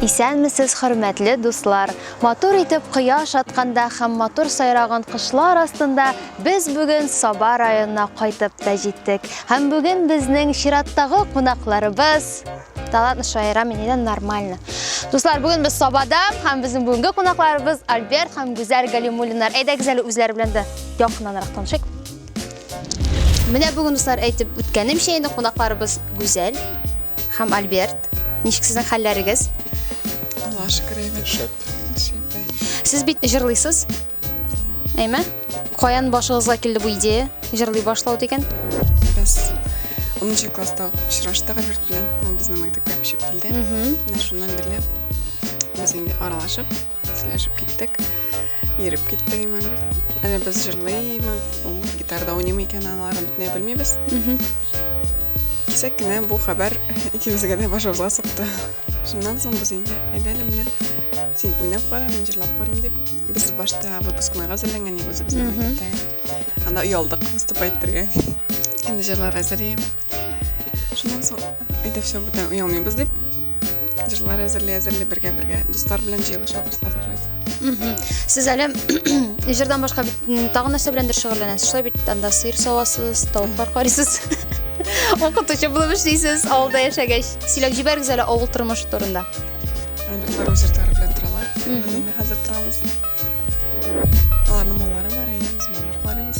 Исәнмесез, хөрмәтле дуслар! Матур итеп кояш атканда һәм матур сайраган кышлар астында без бүген Саба районына кайтып та җиттек. Һәм бүген безнең чираттагы кунакларыбыз Талант шаира минедән нормально. Дуслар, бүген без Сабада һәм безнең бүгенге кунакларыбыз Альберт һәм Гүзәл Галимуллиннар. Әйдәгез әле үзләре белән дә якыннанрак танышыйк. Менә бүген дуслар әйтеп үткәнемчә инде кунакларыбыз Гүзәл һәм Альберт. Ничек сезнең хәлләрегез? Алла шөкер әйбәт. Шәп. Сез бит җырлыйсыз. Әйме? Каян башыгызга килде бу идея? Җырлый башлау дигән. Без 10 класста очраштык Альберт белән. Ул безнең мәктәпкә күчеп килде. Менә шуннан бирле без инде аралашып Сөйләшеп киттек. Йөреп киттек имән. Әле без җырлыймы, ул гитарда уйныймы икән, алары бөтенләй белмибез. Кисәк кенә бу хәбәр икебезгә дә башыбызга сукты. Шуннан соң без инде әйдә әле менә син уйнап кара, мин җырлап карыйм дип, без башта выпускнойга әзерләнгән идек үзебезнең мәктәптәге. Анда оялдык выступать итәргә. Инде җырлар әзер Шуннан соң әйдә все бүтән оялмыйбыз дип җырлар әзерли әзерли бергә бергә дуслар белән җыелышабыз хәзер. Сез әле җырдан башка бит тагын нәрсә беләндер шөгыльләнәсез. Шулай бит анда сыер савасыз, тавыклар карыйсыз. Укытучы булып эшлисез, авылда яшәгәч. Сөйләп җибәрегез әле авыл тормышы турында. Андыклар үз йортлары белән торалар. Мин хәзер торабыз. Аларның маллары бар, әйе, без маллар карыйбыз.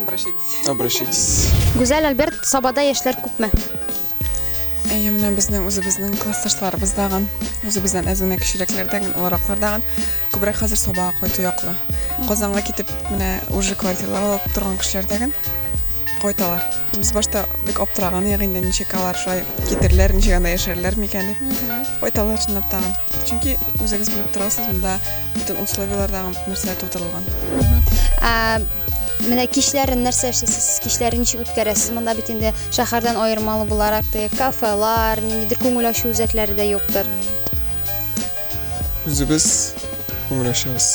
Обращайтесь. Обращайтесь. Гүзәл Альберт, Сабада яшьләр күпме? Әйе, менә безнең үзебезнең классташларыбыз дагын, үзебездән әз генә кечерәкләрдән, олыраклар дагын күбрәк хәзер Сабага кайту яклы. Казанга китеп, менә уже квартиралар алып торган кешеләр дагын кайталар. Без башта бик аптыраган идек инде, ничек алар шулай китерләр, ничек анда яшәрләр микән дип. Кайталар чынлап тагын. Чөнки үзегез белеп торасыз, монда бөтен условияләр тагын нәрсә тудырылган. Ә, Менә кичләрен нәрсә эшлисез? Кичләрен ничек үткәрәсез? Монда бит инде шәһәрдән аермалы буларак теге кафелар, ниндидер күңел ачу үзәкләре дә юктыр. Үзебез күңеләшәбез.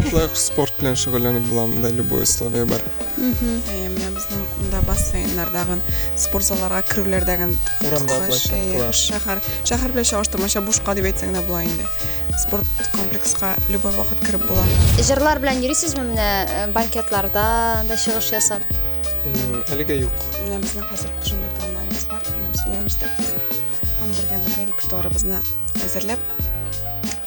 Шулай ук спорт белән шөгыльләнеп була монда любой условие бар. Әйе, менә безнең монда бассейннардагы, спорт залларга керүләрдәге Урамда кыскач, площадкалар. әйе, шәһәр, шәһәр белән чагыштырмача бушка дип әйтсәң дә була инде. Спорт комплекска любой вакыт кереп була. Җырлар белән йөрисезме менә э, банкетларда да чыгыш ясап? М, Әлегә юк. Менә безнең хәзер шундый планнарыбыз бар. Менә без уйланышта. Бергә бергә репертуарыбызны әзерләп,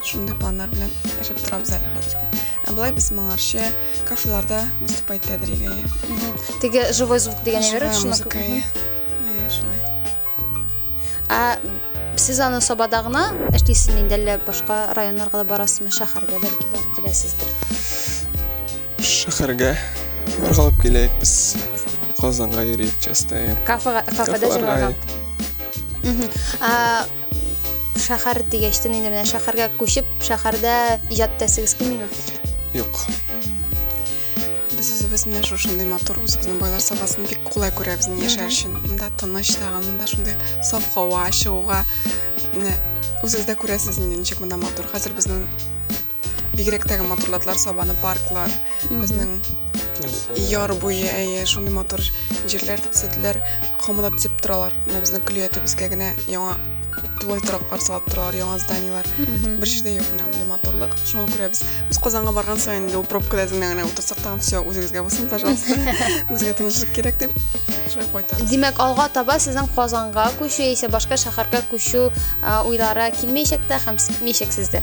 шундый планнар белән яшәп торабыз әле хәзергә. Ә болай без моңарчы кафеларда выступать итәдер иде. Теге живой звук дигән әйбер шуны. Музыка. Шулай. А сез аны Сабада гына эшлисезме инде әллә башка районнарга да барасызмы, шәһәргә бәлки барып киләсездер? Шәһәргә боргалап киләек без. Казанга йөрик частая. Кафега, кафеда җырларга. Шәһәр дигәч тә инде менә шәһәргә күчеп, шәһәрдә иҗат итәсегез килмиме? Юк. Без үзебез менә шушындый матур үзебезнең байлар сабасын бик кулай күрәбез ни яшәр өчен. Монда тыныч тагын, монда шундый саф һава, чыгуга. Менә үзегез дә күрәсез инде ничек монда матур. Хәзер безнең Бигрәк тә матурлатлар сабаны парклар, безнең яр буе, әйе, шундый матур җирләр төзеделәр, комыда төзеп торалар. Менә безнең көлия төбебезгә генә яңа тулай тораклар салып торалар, яңа зданиелар. Бер җирдә юк менә мондый матурлык. Шуңа күрә без без Казанга барган саен юл пробкада генә генә утырсак тагын все үзегезгә булсын, пожалуйста. Безгә тынычлык кирәк дип шулай кайтабыз. Димәк, алга таба сезнең Казанга күчү яисә башка шәһәргә күчү а, уйлары килмәячәк тә һәм китмәячәк сездә.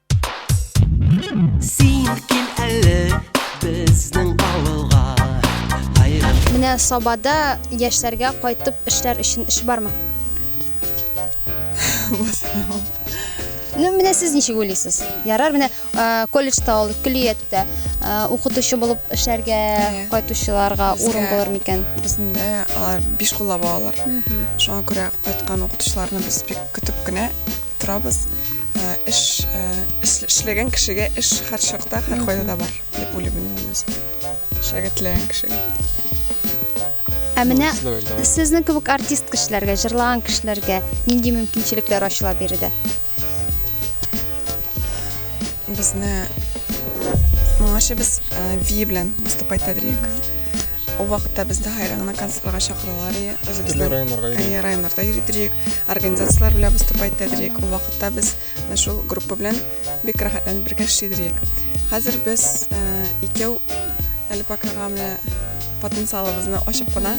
Менә Сабада яшьләргә кайтып эшләр өчен эш бармы? Ну, менә сез ничек уйлыйсыз? Ярар, менә э, колледжда ул көллияттә э, укытучы булып эшләргә Әйе. кайтучыларга Безгә- урын булыр микән? Безнең дә алар биш куллап алалар. Шуңа күрә кайткан укытучыларны без бик көтеп кенә Торабыз. Ә, Эш, ә, эш- эшләгән кешегә эш һәрчакта, һәркайда да бар, дип уйлыйм мин моны үзем. Эшләргә теләгән кешегә. Ә менә Дөрес түгел, давай. сезнең кебек артист кешеләргә, җырлаган кешеләргә нинди мөмкинчелекләр ачыла биредә? безне моңарчы без Ви белән выступать итәдек. Ул вакытта безне Хайран гына концертларга чакыралар и үзебезнең районнарга йөрдек. Районнарда йөрдек, организацияләр белән выступать итәдек. Ул вакытта без шул группа белән бик рәхәтләнеп бергә эшлидек. Хәзер без икәү әле покага менә потенциалыбызны ачып кына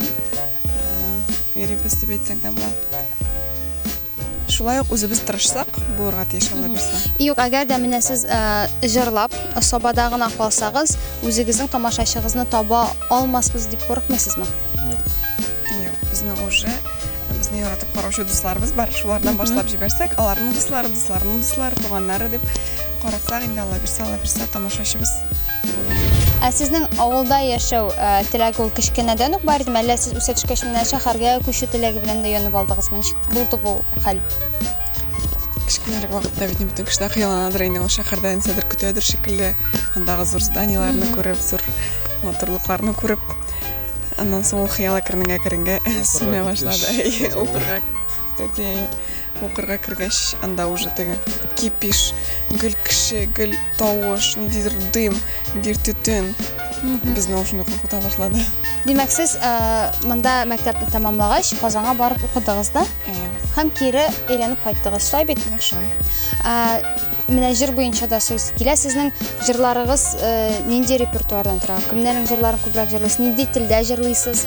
йөрибез дип әйтсәк тә була. Шулай ук үзебез тырышсак, булырга тиеш алай булса. Юк, әгәр дә менә сез җырлап, сабада гына калсагыз, үзегезнең тамашачыгызны таба алмаспыз дип курыкмыйсызмы? Юк, безнең уже безне яратып караучы дусларыбыз бар. Шулардан башлап җибәрсәк, аларның дуслары, дусларының дуслары, туганнары дип Карасак инде алла бирсә, алла бирсә тамашачыбыз булыр. Ә сезнең авылда яшәү теләге ул кечкенәдән үк бар идеме, әллә сез үсә төшкәч менә шәһәргә күчү теләге белән дә янып алдыгызмы? Ничек булды бу хәл? Кечкенәрәк вакытта бит бөтен кеше дә хыялланадыр инде, ул шәһәрдә нәрсәдер көтәдер шикелле, андагы зур зданиеләрне күреп, зур матурлыкларны күреп, аннан соң ул хыял әкренеңә-әкренеңә сүнә башлады. Укырга киткәч. Укырга киткәч, әйе. Укырга кергәч, анда уже теге кипиш, гел кеше, гел тавыш, ниндидер дым, ниндидер төтен без наушникны куркыта башлады. Димәк, сез э, монда мәктәпне тәмамлагач, Казанга барып укыдыгыз да? Әйе. Һәм кире әйләнеп кайттыгыз, шулай бит? Нәкъ шулай. Ә, менә җыр буенча да сүз килә. Сезнең җырларыгыз э, нинди репертуардан тора? Кемнәрнең җырларын күбрәк җырлыйсыз? Нинди телдә җырлыйсыз?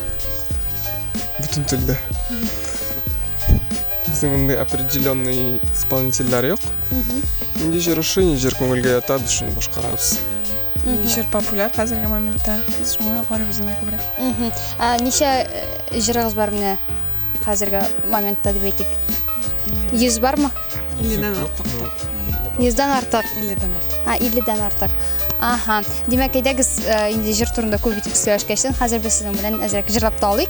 Бөтен телдә. Безнең мондый определенный исполнительләр юк. Нинди җыр ошый, ни җыр күңелгә ята, без шуны башкарабыз. Нинди җыр популяр хәзерге моментта, без шуңа карыйбыз инде күбрәк. Мгм. Ә ничә э, җырыгыз бар менә хәзерге моментта дип әйтик? Йөз бармы? Илледән артык. Йөздән артык. Илледән артык. А, 50-дән артык. Аһа. Димәк, әйдәгез, э, инде җыр турында күп итеп сөйләшкәчтен, хәзер без сезнең белән әзрәк җырлап та алыйк.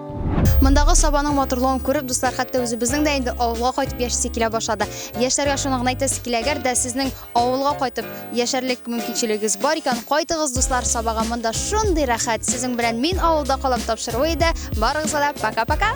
Мондагы сабаның матурлыгын күреп, дуслар, хәтта үзебезнең дә инде авылга кайтып яшисе килә башлады. Яшьләргә шуны гына әйтәсе килә, әгәр дә сезнең авылга кайтып яшәрлек мөмкинчелегегез бар икән, кайтыгыз, дуслар, сабага. Монда шундый рәхәт. Сезнең белән мин авылда калам тапшыруы иде. Барыгызга да пока-пока.